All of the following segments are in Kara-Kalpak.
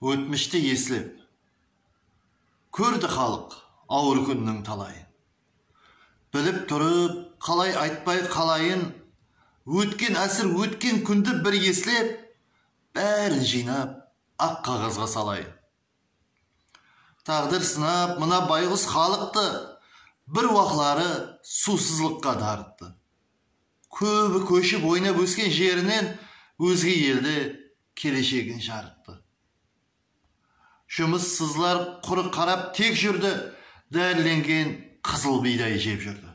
Ótmishti eslep, kórdi xalıq awır kúnniń talayın. Bilip turıp, qalay aytpay qalayın, ótken ásir, ótken kúndi bir eslep, bárin jıynap, aq qaǵazǵa salayın. Táǵdir sınap mına bayǵus xalıqtı Bir waqları suwsızlıqqa darıttı. Kóbi kóship oynap ósken jerinen Ózge elde keleshegin jarıttı. Jumıssızlar qurı qarap tek júrdi, Dárilengen qızıl biyday jep júrdi.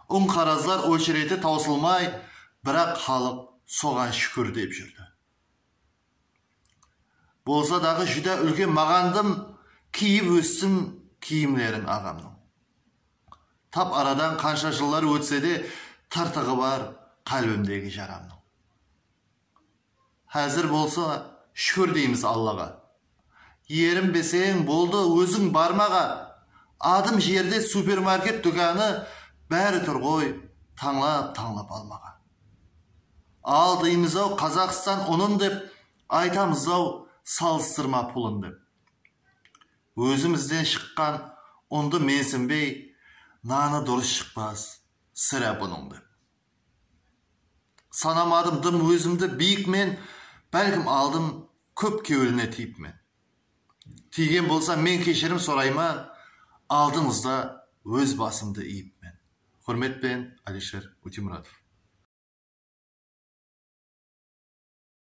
Unqarazlar ochereti tawsılmay, Biraq xalıq soǵan shúkir dep júrdi. Bolsa daǵı júdá úlken maǵandım kiyip óssim kiyimleriń aǵamnıń. Tap aradan qansha jıllar ótsede tırtıǵı bar qálbimdegi jaramnıń. Házir bolsa shúkir deymiz Allaǵa. Erinbeseń boldı óziń barmaǵa adım jerde supermarket dúkanı bári turǵoy tańlap tańlap almaǵa. Al deymizau Qazaqstan unın dep aytamızau salıstırma pulın dep. Ózimizden shıqqan undı mensinbey nanı durıs shıqpas sirá bunıń dep. Sanamadım dım ózimdi biyik men bálkim aldım kóp keuline tiyipmen. tiygen bolsa men keshirim sorayman aldıńızda óz basımdı iyipmen. Húrmet penen Alisher Utimuratov.